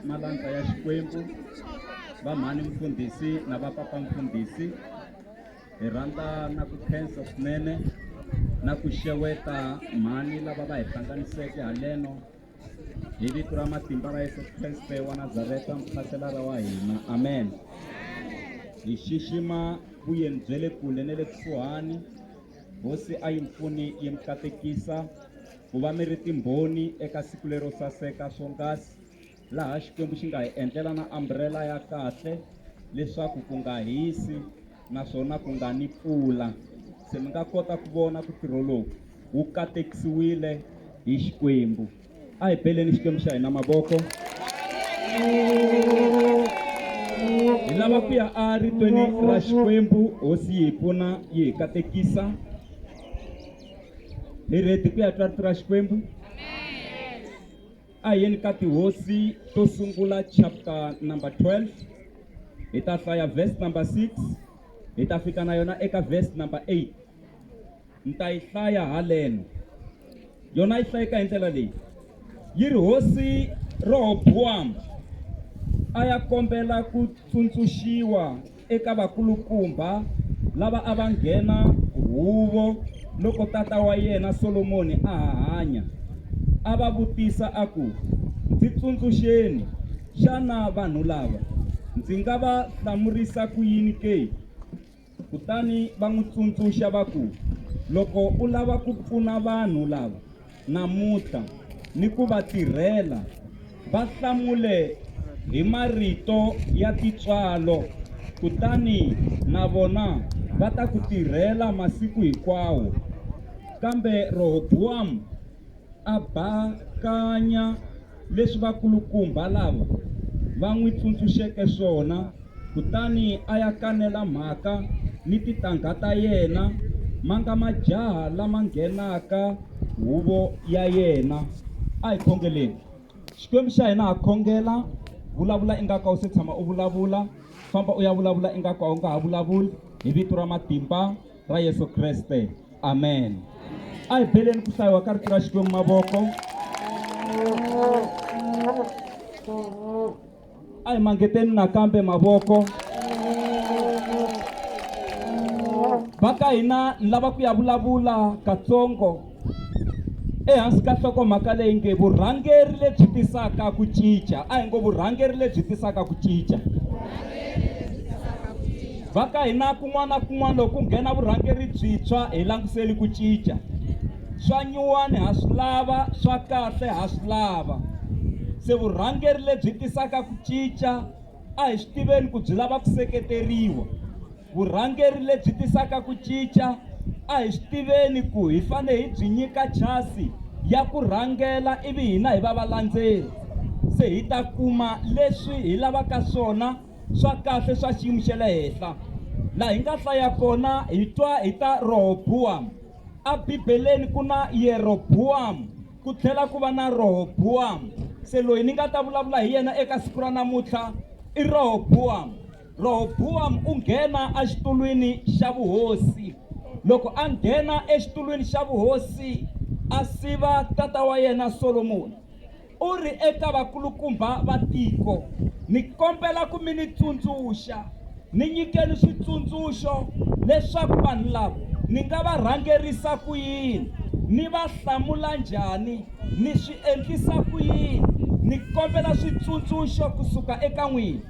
Malandza ya Xikwembu, Vamhani Mfundhisi na Vapapa Mfundhisi, hi rhandza na ku khensa swinene na ku xeweta mhani lava va hi hlanganiseke haleno hi vito ra matimba ra Yesu Kreste wa Nazareta muphaselara wa hina amen hi xixima vuyeni bya le kule na le kusuhani hosi a yi mpfuni yi mi katekisa ku va mi ri timbhoni eka siku lero saseka swonghasi laha Xikwembu xi nga hi endlela na ambrela ya kahle leswaku ku nga hisi naswona ku nga ni pfula. Se mi nga kota ku vona ku ntirho lowu wu katekisiwile hi Xikwembu. A hi beleni Xikwembu xa hina mavoko. Hi lava ku ya a ritweni ra Xikwembu, Hosi yi hi pfuna yi hi katekisa. hi rhedi ku ya twa rito ra xikwembu a hi yeni ka tihosi to sungula chapter number 12 hi ta hlaya verse number 6 hi ta fika na yona eka verse number 8 ni ta yi hlaya haleno yona yi hlayeka hi ndlela leyi yi ri hosi rohobowamu a ya kombela ku tsundzuxiwa eka vakulukumbha lava a va nghena huvo loko tata wa yena Solomoni a ha hanya, a va vutisa a ku, Ndzi tsundzuxeni, xana vanhu lava ndzi nga va hlamurisa ku yini ke? Kutani va n'wi tsundzuxa va ku, Loko u lava ku pfuna vanhu lava, namuntlha ni ku va tirhela va hlamule hi marito ya tintswalo, kutani na vona va ta ku tirhela masiku hinkwawo. Kambe Rohobuwamu a bakanya. leswi vakulukumba lava va n'wi tsundzuxeke swona, kutani a ya kanela mhaka ni titangha ta yena, ma nga majaha lama nghenaka huvo ya yena. A hi khongeleni. Xikwembu xa hina ha khongela, vulavula ingaku a wu se tshama u vulavula, famba u ya vulavula ingaku a wu nga ha vulavuli, hi vito ra matimba. ra Yesu Kreste. Amen. A hi beleni ku hlayiwa ka rito ra Xikwembu mavoko. A hi mangeteni nakambe mavoko. Va ka hina lava ku ya vulavula katsongo. ehansi ka nhlokomhaka leyi nge vurhangeri lebyi tisaka ku cinca a hi ngo vurhangeri lebyi tisaka ku cinca va ka hina kun'wana na kun'wana loko ku nghena vurhangeri byintshwa hi langutiseli ku cinca swa nyuwani ha swi lava swa kahle ha swi lava se vurhangeri lebyi tisaka ku cinca a hi swi tiveni ku byi lava ku seketeriwa Vurhangeri lebyi tisaka ku cinca a hi swi tiveni ku hi fane hi byi nyika chasi ya ku rhangela ivi hina hi va valandzeri se hi ta kuma leswi hi lavaka swona swa kahle swa xiyimo xa le henhla laha hi nga hlaya kona hi twa hi ta rohobuwamu abibeleni ku na yerobuwamu ku tlhela ku va na rohobuwamu se loyi ni nga ta vulavula hi yena eka siku ra namuntlha i rohobuwamu Rehobuwamu u nghena exitulwini xa vuhosi. Loko a nghena exitulwini xa vuhosi, a siva tata wa yena Solomoni. U ri eka vakulukumba va tiko, Ni kombela ku mi ni tsundzuxa, ni nyikeni switsundzuxo leswaku vanhu lava ni nga va rhangerisa ku yini, ni va hlamula njhani, ni swi endlisa ku yini. Ni kombela switsundzuxo ku suka eka n'wina.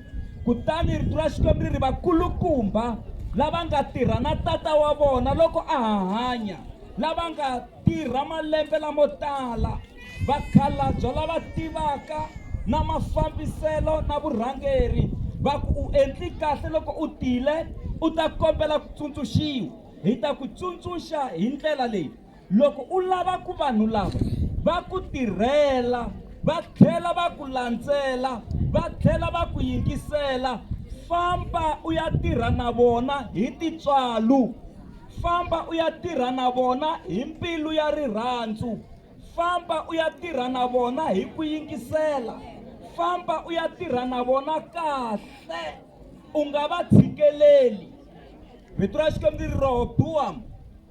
Kutani rito ra Xikwembu ri ri vakulukumba lava nga tirha na tata wa vona loko a ha hanya lava nga tirha malembe lamo tala vakhalabya lava tivaka na mafambiselo na vurhangeri va ku u endli kahle loko u tile u ta kombela ku tsundzuxiwa hi ta ku tsundzuxa hi ndlela leyi Loko u lava ku vanhu lava va ku tirhela va tlhela va ku landzela va tlhela va ku yingisela famba u ya tirha na vona hi tintswalo famba u ya tirha na vona hi mbilu ya rirhandzu famba u ya tirha na vona hi ku yingisela famba u ya tirha na vona kahle u nga va tshikeleli vito ra xikwembu ri rohobuwamu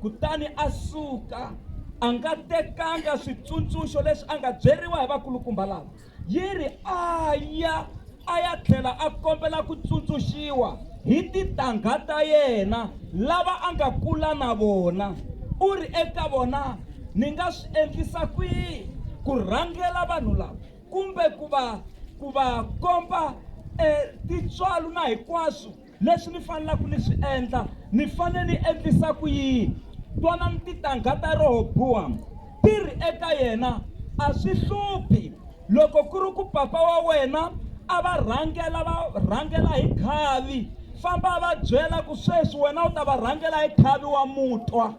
kutani a suka a nga tekanga switsundzuxo leswi a nga byeriwa hi vakulukumba lava yi ri a ya a ya tlhela a kombela ku tsundzuxiwa hi titangha ta yena lava a nga kula na vona u ri eka vona ni nga swi endlisa kwihi ku rhangela vanhu lava kumbe ku va ku va komba um tintswalo na hinkwaswo leswi ni fanelaka ni swi endla ni fanele ni endlisa ku yini twanani titangha ta rohobowamu ti ri eka yena a swi hluphi loko ku ri ku papa wa wena a va rhangela va rhangela hi khavi famba va byela ku sweswi wena u ta va rhangela hi khavi wa mutwa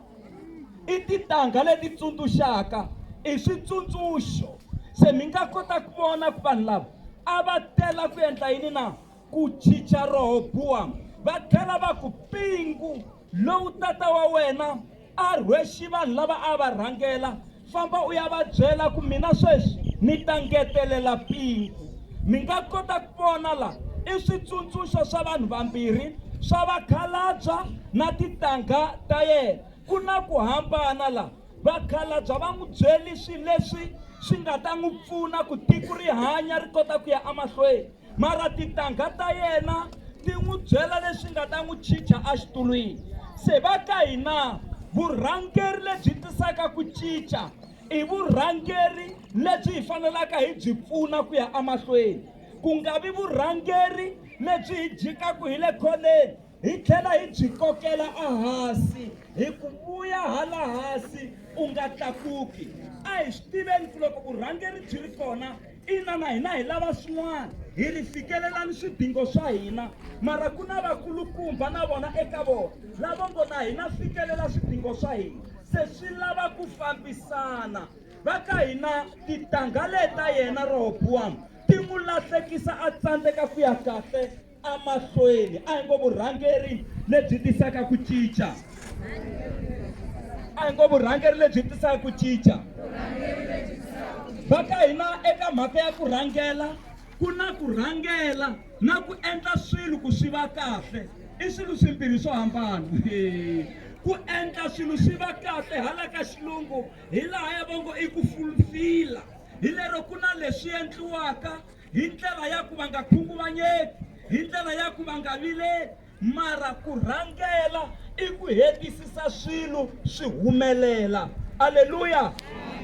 i titangha leti tsundzuxaka i switsundzuxo se mi nga kota ku vona ku vanhu lava a va tela ku endla yini na ku chicha Rohobuwamu va tlhela va ku, Mpingu lowu tata wa wena a rhwexe vanhu lava a va rhangela, famba u ya va byela ku mina sweswi ni ta ngetelela mpingu. Mi nga kota ku vona la i switsundzuxo swa vanhu vambirhi swa vakhalabya na tintangha ta yena. Ku na ku hambana la, vakhalabya va n'wi byele swilo leswi swi nga ta n'wi pfuna ku tiko ri hanya ri kota ku ya emahlweni. mara tintangha ta yena ti n'wi byela leswi nga ta n'wi chicha exitulwini se va ka hina vurhangeri lebyi tisaka ku cinca i vurhangeri lebyi hi fanelaka hi byi pfuna ku ya emahlweni ku nga vi vurhangeri lebyi hi jikaku hi le khoneni hi tlhela hi byi kokela ahasi hi ku vuya hala hasi u nga tlakuki a hi swi tiveni ku loko vurhangeri byi ri kona ina na hina hi lava swin'wana hi ri fikelelani swidingo swa hina mara ku na vakulukumba na vona eka vona lavo ngo na hina fikelela swidingo swa hina se swi lava ku fambisana va ka hina titangha leta yena rohobuwamu ti n'wi lahlekisa a tsandzeka ku ya kahle emahlweni a hi ngo vurhangeri lebyi tisaka ku cinca a hi ngo vurhangeri lebyi tisaka ku cinca va ka hina eka mhaka ya ku rhangela ku na ku rhangela na ku endla swilo ku swi va kahle i swilo swimbirhi swo hambana ku endla swilo swi va kahle hala ka xilungu hi laha ya vongo i ku fulfila hi lero ku na leswi endliwaka hi ndlela ya ku va nga khunguvanyeki hi ndlela ya ku va nga vileli mara ku rhangela i ku hetisisa swilo swi humelela aleluya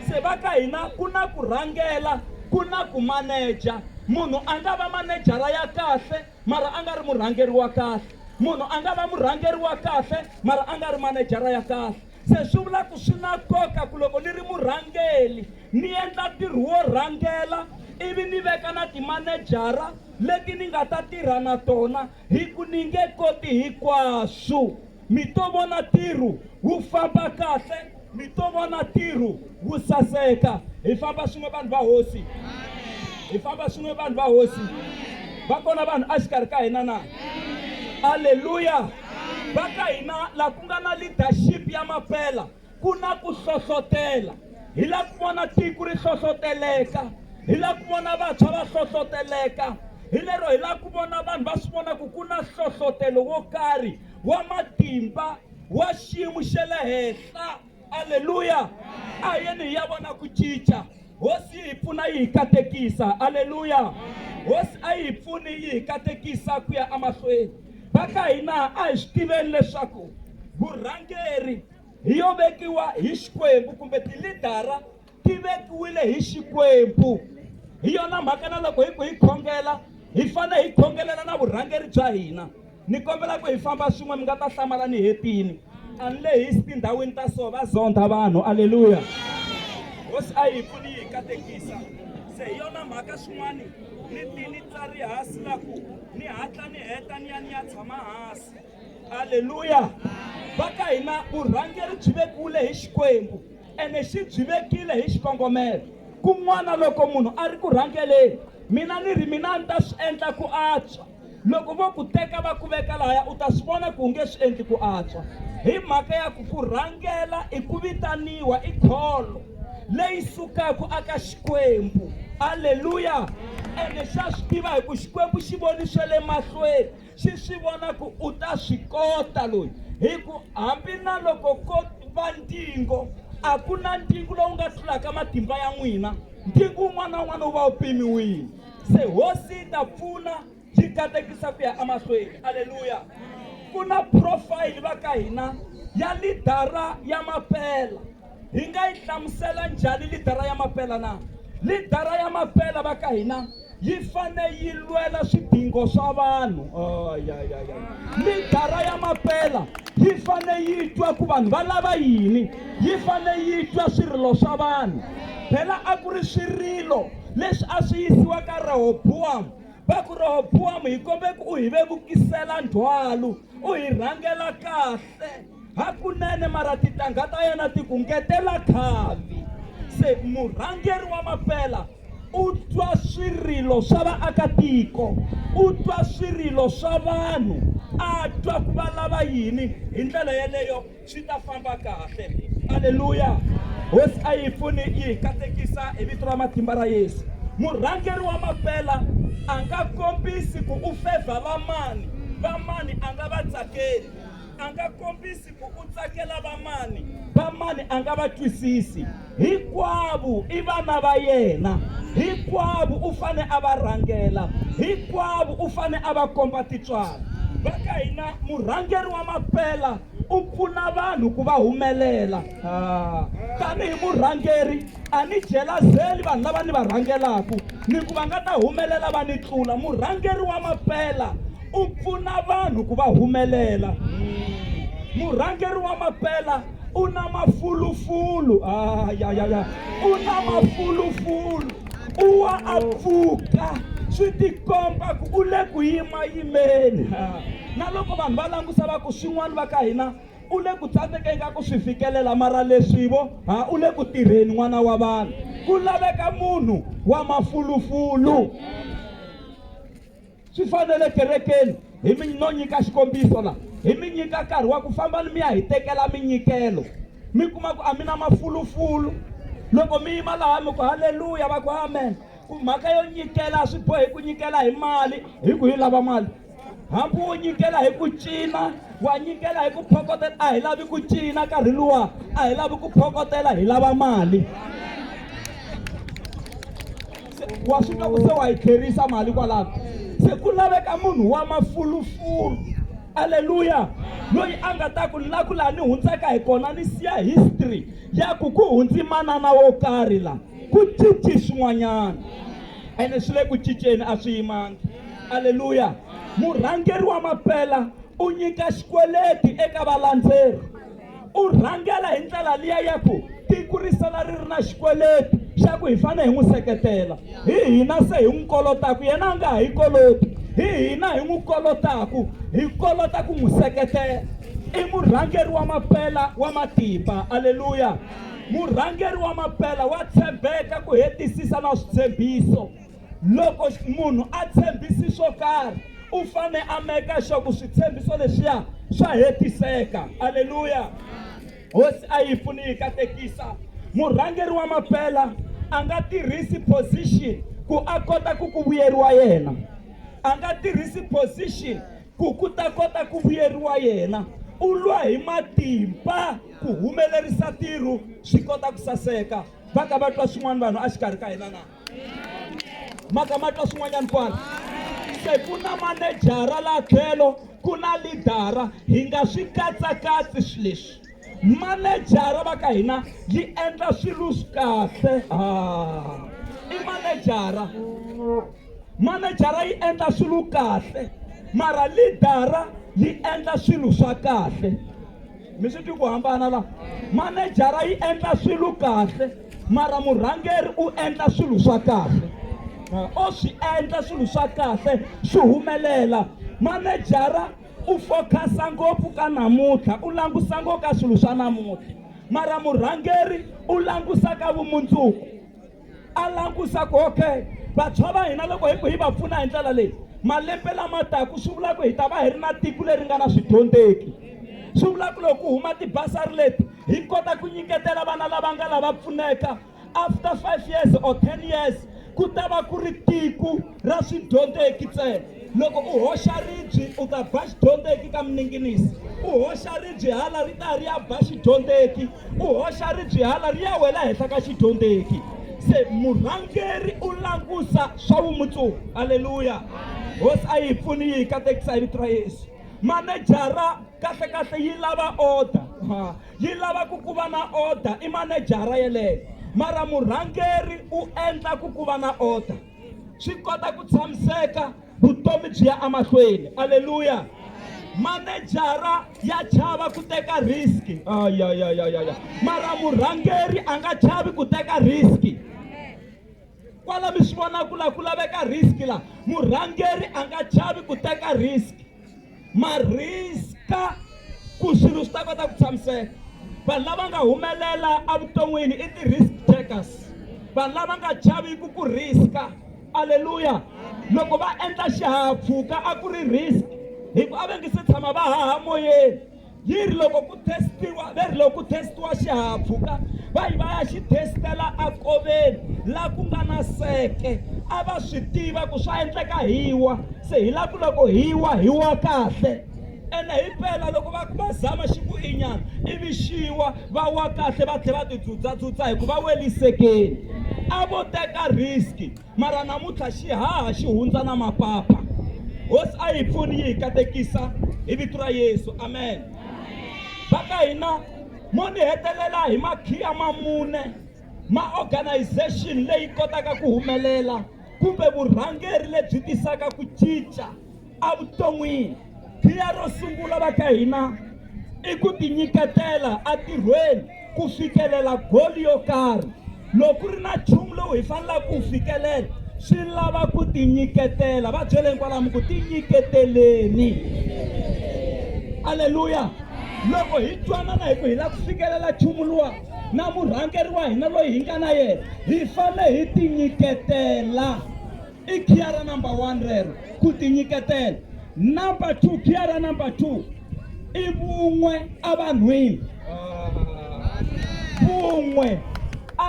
se va ka hina ku na ku rhangela ku na ku maneja munhu a nga va manejara ya kahle mara a nga ri murhangeri wa kahle munhu a nga va murhangeri wa kahle mara a nga ri manejara ya kahle Se swi vula ku swi na nkoka ku loko ni ri murhangeri ni endla ntirho wo rhangela ivi ni veka na timanejara leti ni nga ta tirha na tona hi ku ni nge koti hinkwaswo. Mi to vona ntirho wu famba kahle, mi to vona ntirho wu saseka. Hi famba swin'we vanhu va Hosi. Hi famba swin'we vanhu va Hosi. Va kona vanhu exikarhi ka hina na? Aleluya! va ka hina laha ku nga na leadership ya mampela ku na ku hlohlotela hi la ku vona tiko ri hlohloteleka hi la ku vona vantshwa va hlohloteleka hi lero hi la ku vona vanhu va swi vona ku ku na hlohlotelo wo karhi wa matimba wa xiyimo xa le henhla aleluya a hi yeni hi ya vona ku cinca hosi yi hi pfuna yi hi katekisa aleluya hosi a yi hi pfuni yi hi katekisa ku ya emahlweni va ka hina a hi swi tiveni leswaku vurhangeri hi yo vekiwa hi xikwembu kumbe tilidara ti vekiwile hi Xikwembu. Hi yona mhaka na loko hi ku hi khongela hi fanele hi khongelela na vurhangeri bya hina. Ni kombela ku hi famba swin'we mi nga ta hlamala ni hetini. A ni lehisi tindhawini ta so va zondha vanhu aleluya. Hosi a yi pfuni yi hi katekisa. Se hi yona mhaka swin'wani ni ti ni tsariha silaku ni hatla ni heta ni ya ni ya tshama hansi. halleluya va ka hina vurhangeri byi vekiwile hi xikwembu ene xi byi vekile hi xikongomelo kun'wana loko munhu a ri ku rhangeleni mina ni ri mina ni ta swi endla ku antswa loko vo ku teka va ku veka lahaya u ta swi vona ku u nge swi endli ku antswa hi mhaka ya ku ku rhangela i ku vitaniwa i kholo leyi sukaka aka xikwembu halleluya ene xa swi tiva hi ku xikwembu xi voni swa le mahlweni xi swi vona ku u ta swi kota loyi hi ku hambi na loko ko va ntingo a ku na ntingo lowu nga tlulaka matimba ya n'wina ntingo wun'wana na wun'wana wu va wu pimiwile se hosi yi ta pfuna yi katekisa ku ya emahlweni aleluya ku na profile va ka hina ya lidara ya mapela hi nga yi hlamusela njhani lidara ya mapela na lidara ya mapela va ka hina yi fane yi lwela swidingo swa vanhu oh, ya, ya, ya. lidara ya mapela yi fane yi twa ku vanhu va lava yini yi fane yi twa swirilo swa vanhu phela a ku ri swirilo leswi a swi yisiwa ka rehobowamu va ku rehobowamu hi kombe ku u hi vevukisela ndzhwalu u hi rhangela kahle Hakunene mara tintangha ta yena ti ku ngetela khavi. Se murhangeri wa mapela u twa swirilo swa vaakatiko, u twa swirilo swa vanhu, a twa ku va lava yini. Hi ndlela yeleyo swi ta famba kahle. Aleluya! Hosi a yi pfuni yi hi katekisa hi vito ra matimba ra Yesu. Murhangeri wa mapela a nga kombisi ku u fevha vamani, vamani a nga va tsakeli. a nga kombisi ku u tsakela vamani vamani a nga va twisisi hinkwavo i vana va yena hinkwavo u fane a va rhangela hinkwavo u fane a va komba titswalo va ka hina murhangeri wa mapela u pfuna vanhu ku va humelela ah. tanihi murhangeri a ni jelazeli vanhu lava ni va rhangelaku ni ku va nga ta humelela va ni tlula murhangeri wa mapela u pfuna vanhu ku va humelela murhangeri wa mapela u na mafulufulu ayayaya ah, u na mafulufulu u wa a pfuka swi tikomba ku u le ku yimayimeni ah, na loko vanhu va langusa va ku swin'wana va ka hina u le ku tsandzekeni ka ku swi fikelela mara leswivo ha ah, u le ku tirheni n'wana wa vanhu ku laveka munhu wa mafulufulu Swi fanele kerekeni hi mi no nyika xikombiso la hi mi nyika nkarhi wa ku famba ni mi ya hi tekela minyikelo mi kuma ku a mi na mafulufulu loko mi yima laha mi ku haleluya va ku amen ku mhaka yo nyikela swi bohi ku nyikela hi mali hi ku yi lava mali hambi wo nyikela hi ku cina wa nyikela hi ku phokotela a hi lavi ku cina nkarhi luwa a hi lavi ku phokotela hi lava mali wa swi twa ku se wa hi tlherisa mali kwalano se ku laveka munhu wa mafulufulu aleluya loyi a nga ta ku la ku laha ni hundzaka hi kona ni siya history ya ku ku hundzi manana wo karhi la ku cinci swin'wanyana ene swi le ku cinceni a swi yimangi aleluya murhangeri wa mapela u nyika xikweleti eka valandzeri u rhangela hi ndlela liya ya ku tiko ri sala ri ri na xikweleti xa ku hi fanele hi n'wi seketela hi hina se hi n'wi kolotaku yena a nga ha yi koloti hi hina hi n'wi kolotaku hi kolota ku n'wi seketela i murhangeri wa mapela wa matimba aleluya murhangeri wa mapela wa tshembeka ku hetisisa na switshembiso loko munhu a tshembisi swo karhi u fane a meka sure ku switshembiso leswiya swa hetiseka aleluya hosi a yi pfuni yi katekisa murhangeri wa maphela a nga tirhisi position ku a kota ku ku vuyeriwa yena a nga tirhisi position ku ku ta kota ku vuyeriwa yena u lwa hi matimba ku humelerisa ntirho swi kota ku saseka va ka va twa swin'wana vanhu a xikarhi ka hina na maka ma twa swin'wanyana kwala se ku na manejara la tlhelo ku na lidara hi nga swi katsakatsi swi leswi manejara va ka hina yi endla swilo swi kahle i manejara manejara yi endla swilo kahle mara lidara yi endla swilo swa kahle mi swi twi ku hambana la manejara yi endla swilo kahle mara murhangeri u endla swilo swa kahle o swi endla swilo swa kahle swi humelela manejara u focus-a ngopfu ka namuntlha u langusa ngo ka swilo swa namuntlha mara murhangeri u langusa ka vumundzuku a langusa ku okay vantshwa va hina loko hi ku hi va pfuna hi ndlela leyi malembe lama taku swi vula ku hi ta va hi ri na tiko leri nga na swidyondzeki swi vula ku loko ku huma tibasari leti hi kota ku nyiketela vana lava nga lava pfuneka after five years or ten years ku ta va ku ri tiko ra swidyondzeki ntsena loko u hoxa ribyi u ta ba xidyondzeki ka mininginisi u hoxa ribyi hala ri ta ri ya ba xidyondzeki u hoxa ribyi hala ri ya wela henhla ka xidyondzeki se murhangeri u langusa swa vumundzuku aleluya hosi a yi hi pfuni yi hi katekisa hi vito ra yesu manejara kahle kahle yi lava order yi lava ku ku va na order i manejara yeleyo mara murhangeri u endla ku ku va na order swi kota ku tshamiseka vutomi byi ya emahlweni aleluya manejara ya chava ku teka riski ayayayaya mara murhangeri a nga chavi ku teka riski kwala mi swi vona ku la ku laveka riski la murhangeri a nga chavi ku teka riski ma riska ku swilo swi ta kota ku tshamiseka vanhu lava nga humelela evuton'wini i ti-risk takers vanhu lava nga chaviku ku riska aleluya loko va endla xihahampfhuka a ku ri risk hikuva a va nge se tshama va haha moyeni yi ri loko ku testiwa va ri loko ku testiwa xihahampfhuka va yi va ya xi testela akoveni la ku nga na seke a va swi tiva ku swa endleka hi wa se hi la ku loko hi wa hi wa kahle ene hi mpela loko va va zama xi ku inyana ivi xiwa va wa kahle va tlhela va tidzudzatsudza hikuva welisekeni a vo teka risk mara namuntlha xihaha xi hundza na mapapa hosi a yi pfuni yi hi katekisa hi vito ra yesu amen va ka hina mo ni hetelela hi makhiya ma mune ma organization leyi kotaka ku humelela kumbe vurhangeri lebyi tisaka ku cinca evuton'wini khiya ro sungula va ka hina i ku tinyiketela entirhweni ku fikelela goli yo karhi loko ri na nchumu lowu hi fanelaka ku wu fikelela swi lava ku tinyiketela va byeleni kwalamu ku tinyiketeleni aleluya loko hi twanana hi ku hi lava ku fikelela nchumu luwa na murhangeri wa hina loyi hi nga na yena hi fanele hi tinyiketela i khiya ra number one rero ku tinyiketela number two khiya ra number two i vun'we evanhwini vun'we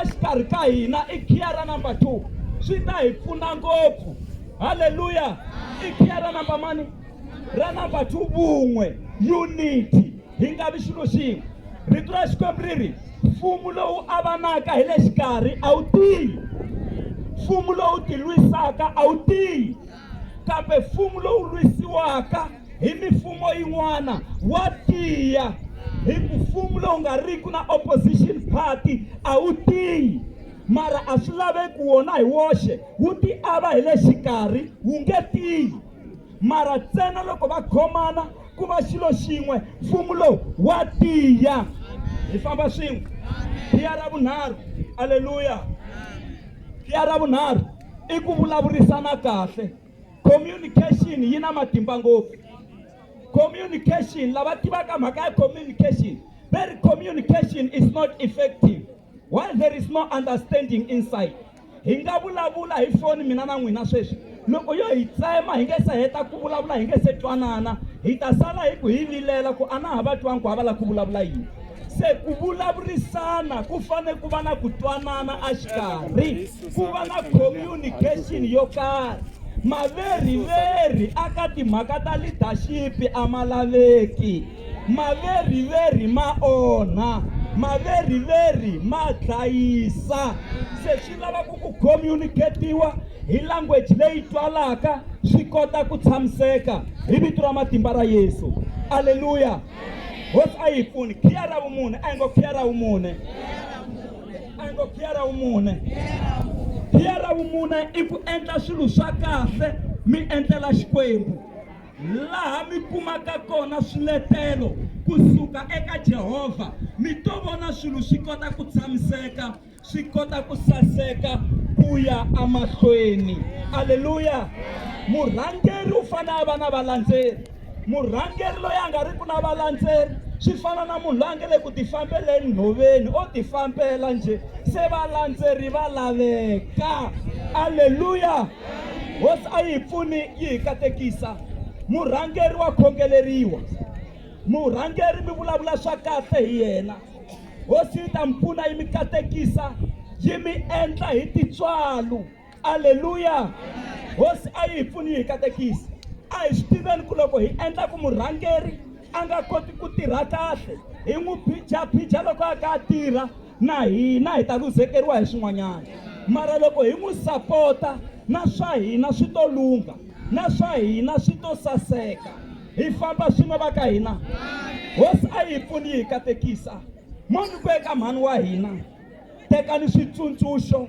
exikarhi ka hina i khiya ra number two swi ta hi pfuna ngopfu halleluya i khiya ra number mani ra number two vun'we unity hi nga vi xilo xin'we rito ra xikwembu ri ri mfumo lowu avanaka hi le xikarhi a wu tiyi mfumo lowu tilwisaka a wu tiyi kambe mfumo lowu lwisiwaka hi mifumo yin'wana wa tiya hi ku mfumo lowu nga riki na opposition party a wu tiyi mara a swi laveki wona hi woxe wu ti ava hi le xikarhi wu nge tiyi Mara ntsena loko va khomana ku va xilo xin'we, mfumo lowu wa tiya. Hi famba swin'we. Khiya ra vunharhu, aleluya, khiya ra vunharhu i ku vulavurisana kahle. Communication yi na matimba ngopfu. Communication, lava tivaka mhaka ya communication va ri communication is not effective. While there is no understanding inside, hi nga vulavula hi foni mina na n'wina sweswi loko yo hi tsema hi nge se heta ku vulavula hi nge se twanana hi ta sala hi ku hi vilela ku a na ha va twangi ku ha va lava ku vulavula yini se ku vulavurisana ku fane ku va na ku twanana exikarhi ku va na communication yo karhi maveriveri aka timhaka ta leadership a ma laveki Maveriveri ma onha, maveriveri ma dlayisa. Se swi lava ku ku communicate-iwa hi language leyi twalaka swi kota ku tshamiseka hi vito ra matimba ra Yesu. Aleluya! Hosi a yi pfuni. Khiya ra vumune, a hi ngo khiya ra vumune. A hi ngo khiya ra vumune. Khiya ra vumune i ku endla swilo swa kahle mi endlela Xikwembu. laha mi kumaka kona swiletelo ku suka eka Jehovha, mi to vona swilo swi kota ku tshamiseka, swi kota ku saseka ku ya emahlweni. Aleluya! Murhangeri u fanele a va na valandzeri. Murhangeri loyi a nga ri ku na valandzeri swi fana na munhu loyi a nga le ku tifambeleni nhoveni o tifambela njhe se valandzeri va laveka. Aleluya! Hosi a yi hi pfuni yi hi katekisa. Murhangeri wa khongeleriwa. Murhangeri mi vulavula swa kahle hi yena. Hosi yi ta mi pfuna yi mi katekisa yi mi endla hi tintswalo. Aleluya! Hosi a yi hi pfuni yi hi katekisa. A hi swi tiveni ku loko hi endla ku murhangeri a nga koti ku tirha kahle hi n'wi phijaphija loko a ka a tirha. Na hina hi ta luzekeriwa hi swin'wanyana, mara loko hi n'wi sapota, na swa hina swi to lungha, na swa hina swi to saseka. Hi famba swin'we va ka hina. Hosi a yi hi pfuni yi hi katekisa. Mo ni ku eka mhani wa hina, Tekani switsundzuxo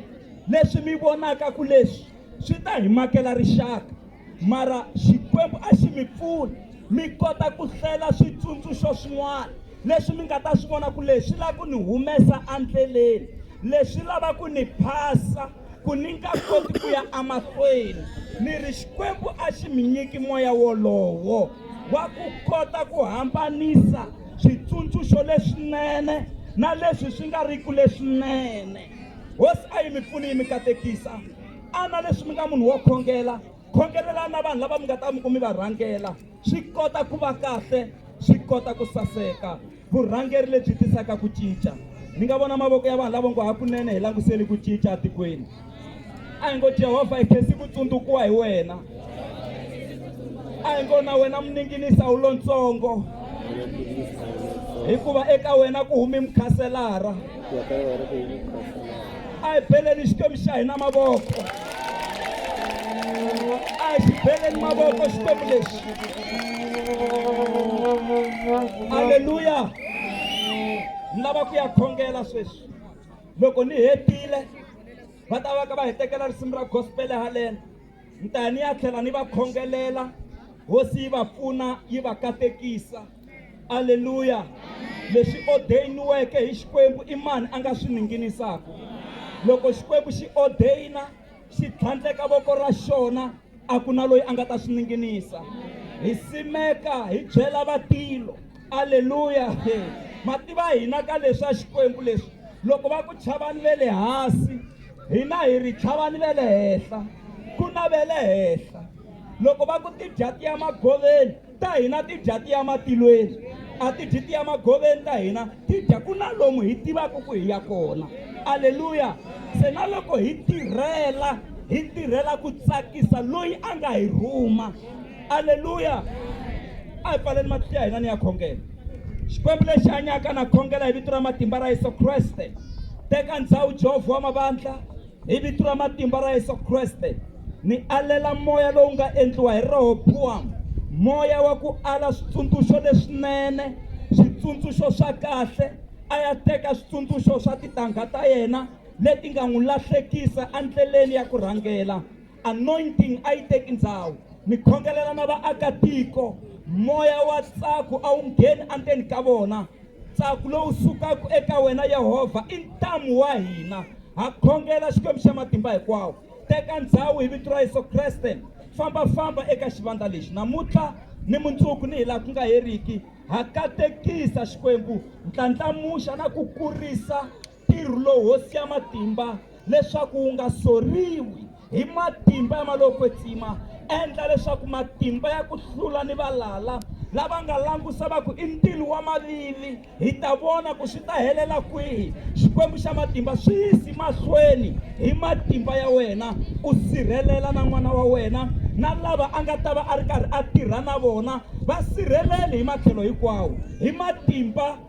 leswi mi vonaka ku leswi swi ta hi makela rixaka mara xikwembu a xi mi pfuni mi kota ku hlela switsundzuxo swin'wana leswi mi nga ta swi vona ku leswi lava ku ni humesa endleleni leswi lava ku ni phasa ku ni nga koti ku ya emahlweni ni ri xikwembu a xi mi nyiki moya wolowo wa ku kota ku hambanisa switsundzuxo leswinene na leswi swi nga ri ku leswinene hosi a yi mi pfuni yi mi katekisa ana leswi mi nga munhu wo khongela khongelela na vanhu lava mi nga ta mi ku mi va rhangela swi kota ku va kahle swi kota ku saseka vurhangeri lebyi tisaka ku cinca mi nga vona mavoko ya vanhu lavo ngo hakunene hi languseli ku cinca etikweni a hi ngo jehovha hi khesi ku tsundzukiwa hi wena a hi ngo na wena muninginisa wu lontsongo hikuva eka wena ku humi mukhaselara a hi beleni xikwembu xa hina mavoko a hi xi beleni mavoko xikwembu lexi aleluya ni lava ku ya khongela sweswi loko ni hetile va ta va ka va hi tekela risimu ra gospele haleni ni ta ya ni ya tlhela ni va khongelela hosi yi va pfuna yi va katekisa aleluya leswi odeyiniweke hi xikwembu i mani a nga swi ninginisaka loko xikwembu xi odeyina xi tlhandleka voko ra xona a ku na loyi a nga ta swi ninginisa hi simeka hi byela vatilo aleluya mativa hina ka leswi a xikwembu leswi loko va ku chavani ve le hansi hina hi ri chavani ve le henhla ku na ve le henhla loko va ku ti dya tiya magoveni ta hina ti dya tiya matilweni a ti dyi tiya magoveni ta hina ti dya ku na lomu hi tivaka ku hi ya kona aleluya se na loko hi tirhela hi tirhela ku tsakisa loyi a nga hi rhuma aleluya a hi pfaleni matihlo ya hina ni ya khongela xikwembu lexi hanyaka na khongela hi vito ra matimba ra yesu kreste teka ndhawu jehovha wa mavandla Hi vito ra matimba ra Yesu Kreste ni alela moya lowu nga endliwa hi Rehobowamu moya wa ku ala switsundzuxo leswinene switsundzuxo swa kahle a ya teka switsundzuxo swa titangha ta yena leti nga n'wi lahlekisa endleleni ya ku rhangela Anointing a yi teki ndhawu. Ni khongelela na vaakatiko, moya wa tsaku a wu ngheni andzeni ka vona. Tsaku lowu sukaka eka wena Yehovha i ntamu wa hina. Ha khongela, Xikwembu xa Matimba Hinkwawo, teka ndhawu hi Vito ra Yesu Kreste. Famba-famba eka xivandla lexi namuntlha, ni mundzuku, ni hilaha ku nga heriki. Ha katekisa, Xikwembu, ndlandlamuxa na ku kurisa. Ntirho lowu Hosi ya Matimba leswaku wu nga soriwi hi matimba ya malokwetsima, endla leswaku matimba ya ku hlula ni valala lava nga langusa va ku i ntilo wa mavili, hi ta vona ku swi ta helela kwihi. Xikwembu xa matimba, swi yisi mahlweni hi matimba ya wena, u sirhelela na n'wana wa wena na lava a nga ta va a ri karhi a tirha na vona, va sirheleli hi matlhelo hinkwawo hi matimba.